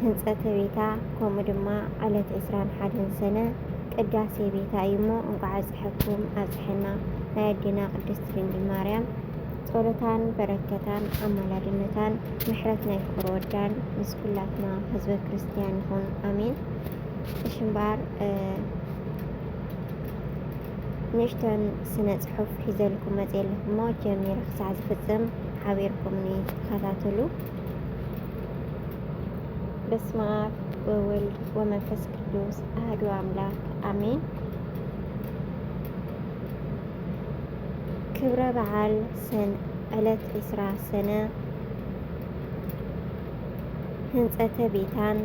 ህንፀተ ቤታ ከምኡ ድማ ዕለት ዕስራን ሓደን ሰነ ቅዳሴ ቤታ እዩ እሞ እንኳዕ ኣብፀሐኩም ኣብፀሐና ናይ ኣዴና ቅድስት ድንግል ማርያም ጸሎታን በረከታን ኣማላድነታን ምሕረት ናይ ፍቅር ወዳን ምስ ኩላትና ህዝበ ክርስቲያን ይኹን ኣሜን። እሺ እምበኣር ንእሽተን ስነ ጽሑፍ ሒዘልኩም መጽ የለኹሞ ጀሚረ ክሳዕ ዝፍጽም ሓቢርኩምኒ ተኸታተሉ። በስመ አብ ወወልድ ወመንፈስ ቅዱስ አህዱ አምላክ አሜን። ክብረ በዓል ሰን ዕለት ዕስራ ሰነ ህንፀተ ቤታን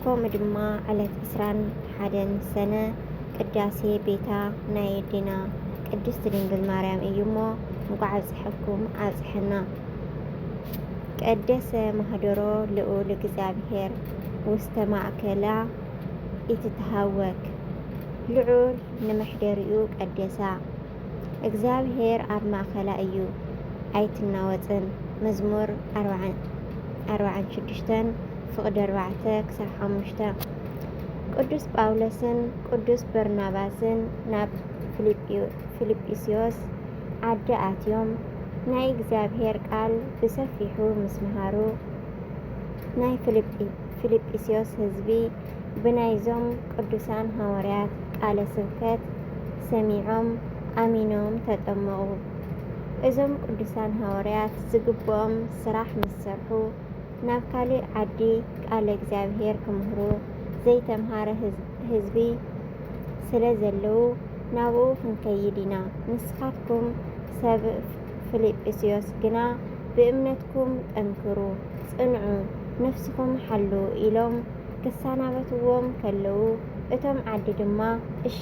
ከምኡ ድማ ዕለት ዕስራን ሓደን ሰነ ቅዳሴ ቤታ ናይ የዴና ቅድስት ድንግል ማርያም እዩ እሞ እንኳዕ ኣብፀሐኩም ኣብፀሐና። ቀደሰ ማህደሮ ልኡል እግዚኣብሔር ውስተ ማእከላ ኢትትሃወክ፣ ልዑል ንመሕደሪኡ ቀደሳ፣ እግዚኣብሔር ኣብ ማእከላ እዩ፣ ኣይትናወጽን፣ መዝሙር ኣርብዓን ሽዱሽተን ፍቕዲ ኣርባዕተ ክሳብ ሓሙሽተ። ቅዱስ ጳውሎስን ቅዱስ በርናባስን ናብ ፊልጵስዮስ ዓዲ ኣትዮም ናይ እግዚኣብሄር ቃል ብሰፊሑ ምስ መሃሩ፣ ናይ ፊልጵስዮስ ህዝቢ ብናይዞም ቅዱሳን ሃዋርያት ቃለ ስብከት ሰሚዖም ኣሚኖም ተጠመቑ። እዞም ቅዱሳን ሃዋርያት ዝግብኦም ስራሕ ምስ ሰርሑ፣ ናብ ካልእ ዓዲ ቃለ እግዚኣብሄር ክምህሩ ዘይተምሃረ ህዝቢ ስለ ዘለዉ፣ ናብኡ ኽንከይድ ኢና። ንስኻትኩም ሰብ ፍልጵስዮስ ግና ብእምነትኩም ጠንክሩ፣ ጽንዑ፣ ነፍስኹም ሓልዉ ኢሎም ክሳናበትዎም ከለዉ እቶም ዓዲ ድማ እሺ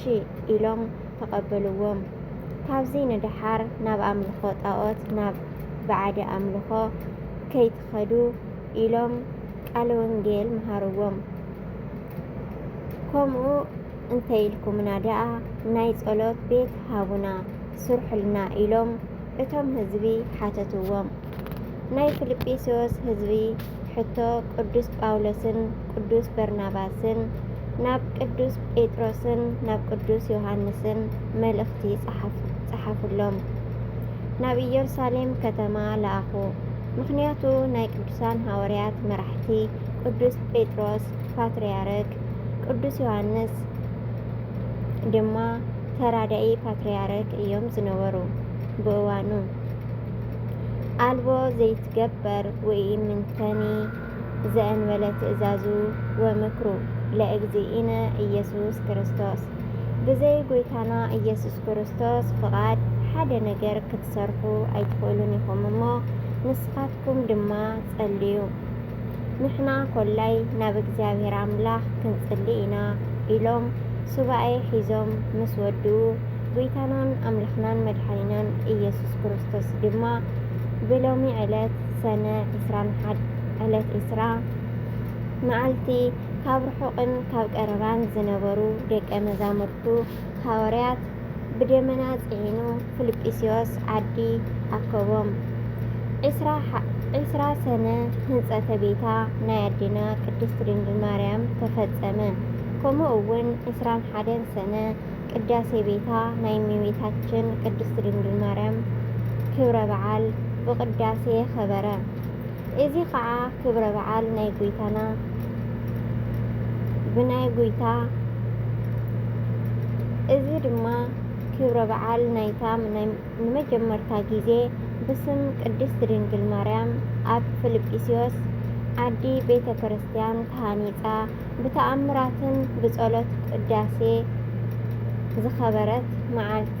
ኢሎም ተቐበልዎም። ካብዚ ንደሓር ናብ ኣምልኾ ጣኦት ናብ ብዓዲ ኣምልኾ ከይትኸዱ ኢሎም ቃለ ወንጌል መሃርዎም። ከምኡ እንተይልኩምና ደኣ ናይ ጸሎት ቤት ሃቡና ስርሑልና ኢሎም እቶም ህዝቢ ሓተትዎም። ናይ ፊልጵስዮስ ህዝቢ ሕቶ ቅዱስ ጳውሎስን ቅዱስ በርናባስን ናብ ቅዱስ ጴጥሮስን ናብ ቅዱስ ዮሃንስን መልእኽቲ ጸሓፉሎም። ናብ ኢየሩሳሌም ከተማ ለኣኹ። ምኽንያቱ ናይ ቅዱሳን ሃዋርያት መራሕቲ ቅዱስ ጴጥሮስ ፓትርያርክ ቅዱስ ዮሃንስ ድማ ተራዳኢ ፓትርያርክ እዮም ዝነበሩ ብእዋኑ። ኣልቦ ዘይትገበር ወኢምንተኒ ዘእንበለ ትእዛዙ ወምክሩ ለእግዚእነ ኢየሱስ ክርስቶስ ብዘይ ጎይታና ኢየሱስ ክርስቶስ ፍቓድ ሓደ ነገር ክትሰርሑ ኣይትኽእሉን ኢኹም እሞ ንስኻትኩም ድማ ጸልዩ ንሕና ኮላይ ናብ እግዚኣብሔር ኣምላኽ ክንጽሊ ኢና ኢሎም ሱባኤ ሒዞም ምስ ወድኡ ጉይታናን ኣምላኽናን መድሓኒናን ኢየሱስ ክርስቶስ ድማ ብሎሚ ዕለት ሰነ ዕስራን ሓድ ዕለት ዕስራ መዓልቲ ካብ ርሑቅን ካብ ቀረባን ዝነበሩ ደቀ መዛሙርቱ ሃዋርያት ብደመና ጽዒኑ ፍልጵስዮስ ዓዲ ኣከቦም። ዕስራ ሰነ ህንጸተ ቤታ ናይ ኣዴና ቅድስት ድንግል ማርያም ተፈጸመ። ከምኡ እውን ዕስራን ሓደን ሰነ ቅዳሴ ቤታ ናይ እመቤታችን ቅድስት ድንግል ማርያም ክብረ በዓል ብቅዳሴ ኸበረ። እዚ ኸኣ ክብረ በዓል ናይ ጎይታና ብናይ ጎይታ እዚ ድማ ክብረ በዓል ናይታ ንመጀመርታ ጊዜ ብስም ቅድስት ድንግል ማርያም ኣብ ፍልጵስዮስ ዓዲ ቤተ ክርስቲያን ተሃኒጻ ብተኣምራትን ብጸሎት ቅዳሴ ዝኸበረት መዓልቲ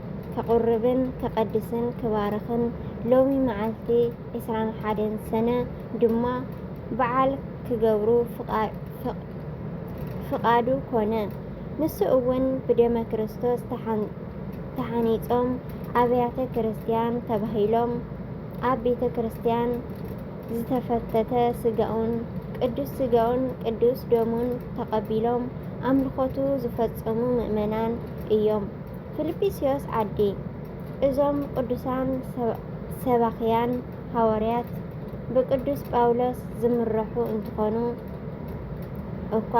ከቑርብን ከቐድስን ክባርኽን ሎሚ መዓልቲ ዕስራን ሓደን ሰነ ድማ በዓል ክገብሩ ፍቓዱ ኮነ። ንሱ እውን ብደመ ክርስቶስ ተሓኒጾም ኣብያተ ክርስቲያን ተባሂሎም ኣብ ቤተ ክርስቲያን ዝተፈተተ ስጋኡን ቅዱስ ስጋኡን ቅዱስ ደሙን ተቐቢሎም ኣምልኾቱ ዝፈጸሙ ምእመናን እዮም። ፍልጵስዮስ ዓዲ እዞም ቅዱሳን ሰባኽያን ሃወርያት ብቅዱስ ጳውሎስ ዝምረሑ እንትኾኑ እኳ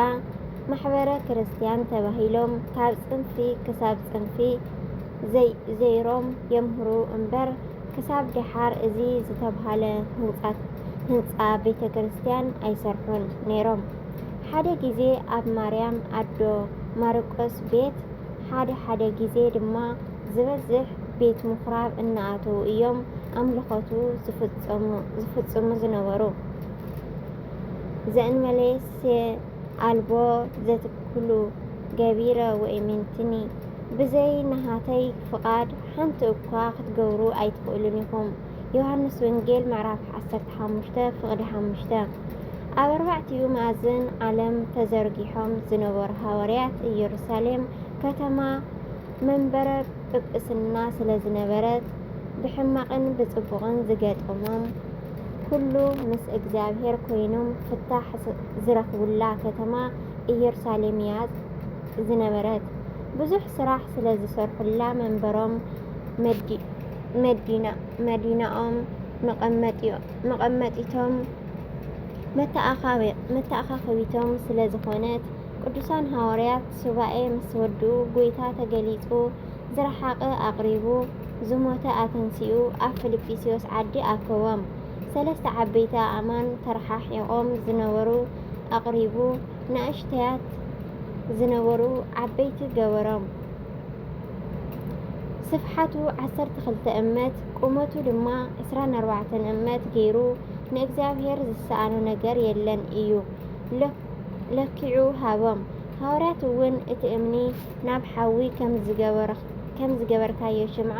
ማሕበረ ክርስቲያን ተባሂሎም ካብ ጽንፊ ክሳብ ጽንፊ ዘይሮም የምህሩ እምበር ክሳብ ደሓር እዚ ዝተብሃለ ህንፃ ቤተ ክርስቲያን ኣይሰርሑን ነይሮም። ሓደ ጊዜ ኣብ ማርያም ኣዶ ማርቆስ ቤት ሓደ ሓደ ግዜ ድማ ዝበዝሕ ቤት ምኩራብ እናኣተዉ እዮም ኣምልኾቱ ዝፍጽሙ ዝነበሩ። ዘእንመሌሴ ኣልቦ ዘትክሉ ገቢረ ወኢሚንትኒ፣ ብዘይ ናሃተይ ፍቓድ ሓንቲ እኳ ክትገብሩ ኣይትኽእሉን ኢኹም። ዮሃንስ ወንጌል ምዕራፍ ዓሰርተ ሓሙሽተ ፍቕዲ ሓሙሽተ ኣብ ኣርባዕቲኡ መኣዝን ዓለም ተዘርጊሖም ዝነበሩ ሃዋርያት ኢየሩሳሌም ከተማ መንበረ ጵጵስና ስለ ዝነበረት ብሕማቕን ብጽቡቕን ዝገጠሞም ኩሉ ምስ እግዚኣብሔር ኮይኖም ፍታሕ ዝረኽቡላ ከተማ ኢየሩሳሌም እያ ዝነበረት። ብዙሕ ስራሕ ስለ ዝሰርሑላ መንበሮም መዲናኦም መቐመጢቶም መተኣኻኸቢቶም ስለ ዝኾነት ቅዱሳን ሃዋርያት ሱባኤ ምስ ወድኡ ጎይታ ተገሊጹ ዝረሓቐ ኣቕሪቡ ዝሞተ ኣተንሲኡ ኣብ ፊልጵስዩስ ዓዲ ኣከቦም ሰለስተ ዓበይቲ ኣእማን ተረሓሒቖም ዝነበሩ ኣቕሪቡ ንእሽተያት ዝነበሩ ዓበይቲ ገበሮም ስፍሓቱ ዓሰርተ ክልተ እመት ቁመቱ ድማ ዕስራን ኣርባዕተን እመት ገይሩ ንእግዚኣብሔር ዝሰኣኖ ነገር የለን እዩ ለኪዑ ሃቦም። ሃዋርያት እውን እቲ እምኒ ናብ ሓዊ ከም ዝገበርካዮ ሽምዓ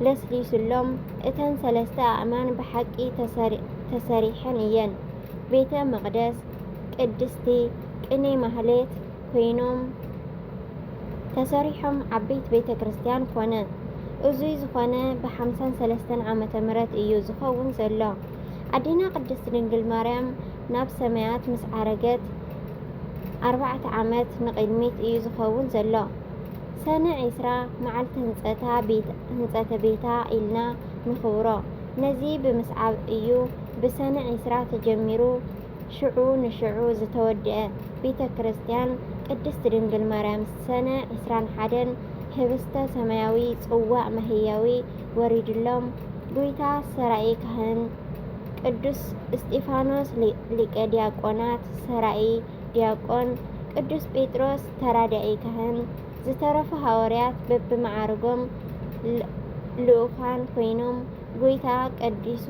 ለስሊሱሎም፣ እተን ሰለስተ ኣእማን ብሓቂ ተሰሪሐን እየን። ቤተ መቕደስ፣ ቅድስቲ፣ ቅኔ ማህሌት፣ ኮይኖም ተሰሪሖም ዓበይት ቤተ ክርስትያን ኮነ። እዙይ ዝኾነ ብሓምሳን ሰለስተን ዓመተ ምረት እዩ ዝኸውን ዘሎ። ኣዴና ቅድስት ድንግል ማርያም ናብ ሰማያት ምስ ዓረገት ኣርባዕተ ዓመት ንቕድሚት እዩ ዝኸውን ዘሎ። ሰነ ዒስራ መዓልቲ ህንፀተ ቤታ ኢልና ንኽብሮ። ነዚ ብምስዓብ እዩ ብሰነ ዒስራ ተጀሚሩ ሽዑ ንሽዑ ዝተወድኤ ቤተ ክርስቲያን ቅድስት ድንግል ማርያም ሰነ ዕስራን ሓደን ህብስተ ሰማያዊ ጽዋዕ መህየዊ ወሪድሎም ጉይታ ሰራኢ ካህን ቅዱስ እስጢፋኖስ ሊቀ ዲያቆናት ሰራኢ ዲያቆን ቅዱስ ጴጥሮስ ተራዳኢ ካህን ዝተረፉ ሃዋርያት በብመዓርጎም ልኡካን ኮይኖም ጐይታ ቀዲሱ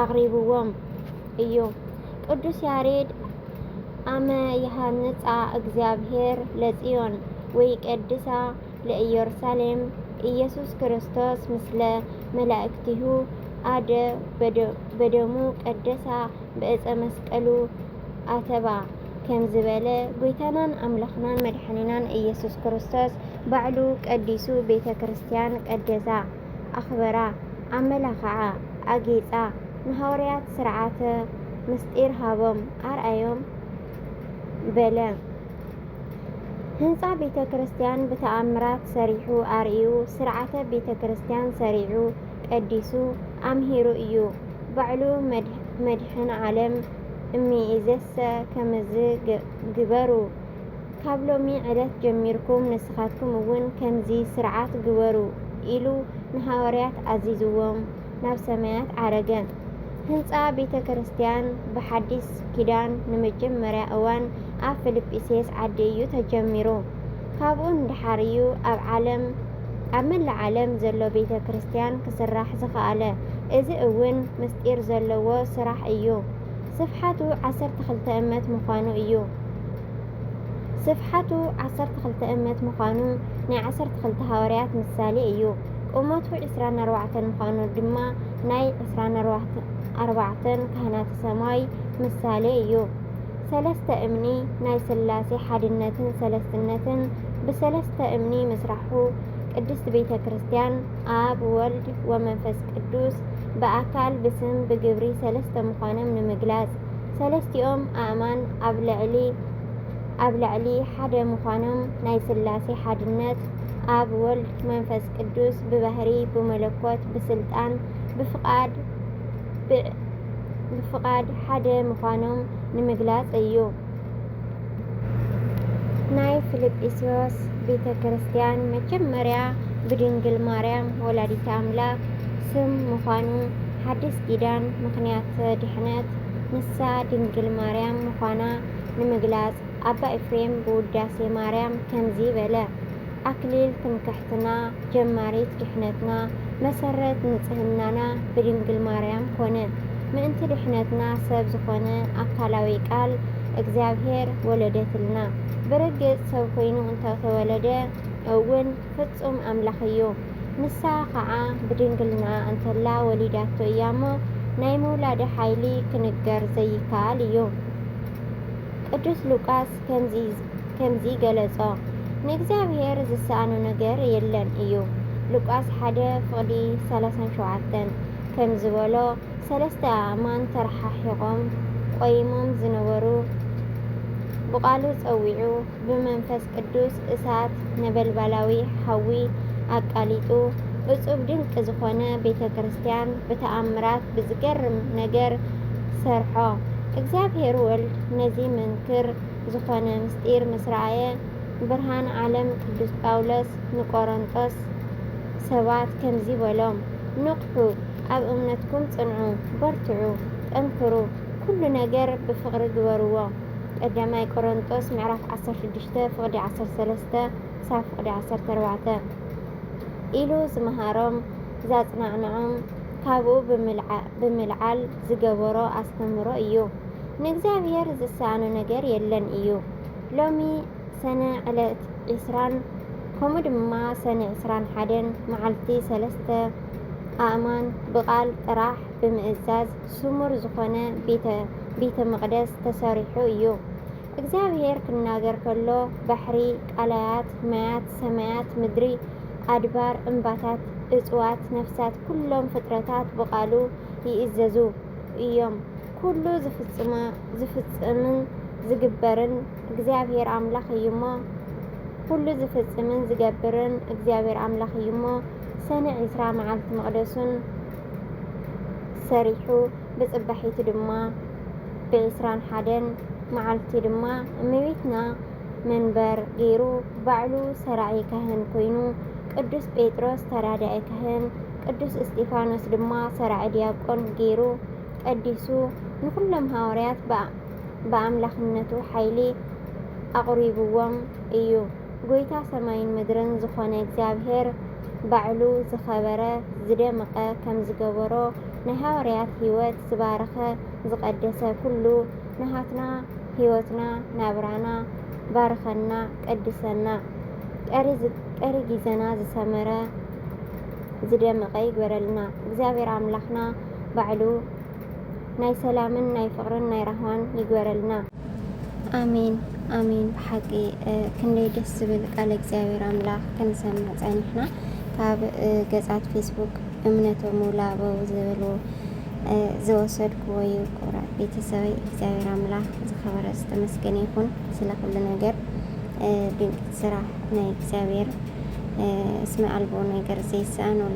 ኣቕሪብዎም እዩ። ቅዱስ ያሬድ ኣመ ይሃንጻ እግዚኣብሔር ለጽዮን ወይ ቀድሳ ለኢየሩሳሌም ኢየሱስ ክርስቶስ ምስለ መላእክቲሁ ኣደ በደሙ ቀደሳ ብእፀ መስቀሉ ኣተባ ከምዝበለ ጐይታናን ኣምላኽናን መድሓኒናን ኢየሱስ ክርስቶስ ባዕሉ ቀዲሱ ቤተ ክርስቲያን ቀደሳ፣ ኣኽበራ፣ ኣመላኸዓ፣ ኣጌጻ፣ ንሃዋርያት ሥርዓተ ምሥጢር ሃቦም፣ ኣርኣዮም በለ። ሕንጻ ቤተ ክርስቲያን ብተኣምራት ሠሪሑ ኣርእዩ፣ ሥርዓተ ቤተ ክርስቲያን ሠሪዑ ቀዲሱ ኣምሂሩ እዩ። ባዕሉ መድኅን ዓለም እምይእዜሰ ከመዝ ግበሩ፣ ካብ ሎሚ ዕለት ጀሚርኩም ንስኻትኩም እውን ከምዚ ሥርዓት ግበሩ ኢሉ ንሃዋርያት ኣዚዝዎም ናብ ሰማያት ዓረገ። ህንጻ ቤተ ክርስቲያን ብሓዲስ ኪዳን ንመጀመርያ እዋን ኣብ ፍልጲስየስ ዓዲ እዩ ተጀሚሩ። ካብኡ ንደሓር እዩ ኣብ ዓለም ኣብ መላእ ዓለም ዘሎ ቤተ ክርስቲያን ክስራሕ ዝኸኣለ። እዚ እውን ምስጢር ዘለዎ ስራሕ እዩ። ስፍሓቱ ዓሰርተ ክልተ እመት ምዃኑ እዩ። ስፍሓቱ ዓሰርተ ክልተ እመት ምዃኑ ናይ ዓሰርተ ክልተ ሃዋርያት ምሳሌ እዩ። ቁመቱ ዕስራን ኣርባዕተን ምዃኑ ድማ ናይ ዕስራን ኣርባዕተን ካህናተ ሰማይ ምሳሌ እዩ። ሰለስተ እምኒ ናይ ስላሴ ሓድነትን ሰለስትነትን ብሰለስተ እምኒ ምስራሑ ቅድስት ቤተ ክርስቲያን ኣብ ወልድ ወመንፈስ ቅዱስ ብኣካል ብስም ብግብሪ ሰለስተ ምዃኖም ንምግላጽ ሰለስቲኦም ኣእማን ኣብ ልዕሊ ኣብ ልዕሊ ሓደ ምዃኖም ናይ ስላሴ ሓድነት ኣብ ወልድ መንፈስ ቅዱስ ብባህሪ ብመለኮት ብስልጣን ብፍቃድ ብፍቃድ ሓደ ምዃኖም ንምግላጽ እዩ። ናይ ፊልጵስዩስ ቤተ ክርስቲያን መጀመርያ ብድንግል ማርያም ወላዲተ ኣምላክ ስም ምዃኑ ሓዲስ ኪዳን ምክንያተ ድሕነት ንሳ ድንግል ማርያም ምዃና ንምግላፅ ኣባ ኤፍሬም ብውዳሴ ማርያም ከምዚ በለ ኣክሊል ትምክሕትና ጀማሪት ድሕነትና መሰረት ንጽህናና ብድንግል ማርያም ኮነ። ምእንቲ ድሕነትና ሰብ ዝኾነ ኣካላዊ ቃል እግዚኣብሔር ወለደትልና። ብርግጽ ሰብ ኮይኑ እንተ ተወለደ እውን ፍጹም ኣምላኽ እዩ። ንሳ ኸኣ ብድንግልናኣ እንተላ ወሊዳቶ እያ እሞ ናይ ምውላዳ ሓይሊ ክንገር ዘይከኣል እዩ። ቅዱስ ሉቃስ ከምዚ ገለጾ፣ ንእግዚኣብሄር ዝሰኣኖ ነገር የለን እዩ። ሉቃስ ሓደ ፍቕዲ ሰላሳን ሸውዓተን ከም ዝበሎ፣ ሰለስተ ኣእማን ተረሓሒቖም ቈይሞም ዝነበሩ ብቓሉ ጸዊዑ ብመንፈስ ቅዱስ እሳት ነበልባላዊ ሓዊ ኣቃሊጡ እፁብ ድንቂ ዝኾነ ቤተ ክርስቲያን ብተኣምራት ብዝገርም ነገር ሰርሖ። እግዚኣብሔር ወልድ ነዚ መንክር ዝኾነ ምስጢር ምስ ረኣየ ብርሃን ዓለም ቅዱስ ጳውሎስ ንቆሮንጦስ ሰባት ከምዚ በሎም ንቕሑ ኣብ እምነትኩም ጽንዑ በርትዑ ጠንክሩ ኩሉ ነገር ብፍቕሪ ግበርዎ። ቀዳማይ ቆሮንጦስ ምዕራፍ ዓሰርተ ሽዱሽተ ፍቕዲ ዓሰርተ ሰለስተ ክሳብ ፍቕዲ ዓሰርተ ኣርባዕተ ኢሉ ዝመሃሮም ዛጽናዕንዖም ካብኡ ብምልዓል ዝገበሮ ኣስተምህሮ እዩ። ንእግዚኣብሔር ዝሰኣኖ ነገር የለን እዩ። ሎሚ ሰነ ዕለት ዒስራን ከምኡ ድማ ሰነ ዕስራን ሓደን መዓልቲ ሰለስተ ኣእማን ብቓል ጥራሕ ብምእዛዝ ስሙር ዝኾነ ቤተ መቕደስ ተሰሪሑ እዩ። እግዚኣብሔር ክናገር ከሎ ባሕሪ፣ ቃላያት፣ ማያት፣ ሰማያት፣ ምድሪ፣ ኣድባር፣ እምባታት፣ እፅዋት፣ ነፍሳት ኩሎም ፍጥረታት ብቃሉ ይእዘዙ እዮም። ኩሉ ዝፍፅምን ዝግበርን እግዚኣብሔር ኣምላኽ እዩሞ ኩሉ ዝፍፅምን ዝገብርን እግዚኣብሔር ኣምላኽ እዩሞ ሰነ ዕስራ መዓልቲ መቕደሱን ሰሪሑ ብፅባሒቱ ድማ ብዕስራን ሓደን መዓልቲ ድማ እመቤትና መንበር ገይሩ ባዕሉ ሰራዒ ካህን ኮይኑ ቅዱስ ጴጥሮስ ተራዳኢ ካህን ቅዱስ እስጢፋኖስ ድማ ሰራዒ ዲያቆን ገይሩ ቀዲሱ ንኹሎም ሃዋርያት ብኣምላኽነቱ ሓይሊ ኣቕሪብዎም እዩ። ጎይታ ሰማይን ምድርን ዝኾነ እግዚኣብሔር ባዕሉ ዝኸበረ ዝደምቀ ከምዝገበሮ ናይ ሃዋርያት ሕይወት ዝባረኸ ዝቀደሰ ኩሉ ናሃትና ሕይወትና ናብራና ባርኸና ቀድሰና ቀሪ ጊዘና ዝሰመረ ዝደመቀ ይግበረልና እግዚኣብሔር ኣምላኽና ባዕሉ ናይ ሰላምን ናይ ፍቅርን ናይ ራህዋን ይግበረልና። ኣሜን ኣሜን ብሓቂ ክንደይ ደስ ዝብል ቃለ እግዚኣብሔር ኣምላኽ ክንሰምዕ ጸኒሕና ካብ ገጻት ፌስቡክ እምነተ ሙሉ ኣበው ዝብሉ ዝወሰድኩዎ እዩ። ክቡራት ቤተሰበይ እግዚኣብሔር ኣምላኽ ዝኸበረ ዝተመስገነ ይኹን ስለ ኩሉ ነገር ድንቂ ስራሕ ናይ እግዚኣብሔር እስመ ኣልቦ ነገር ዘይሰኣኖ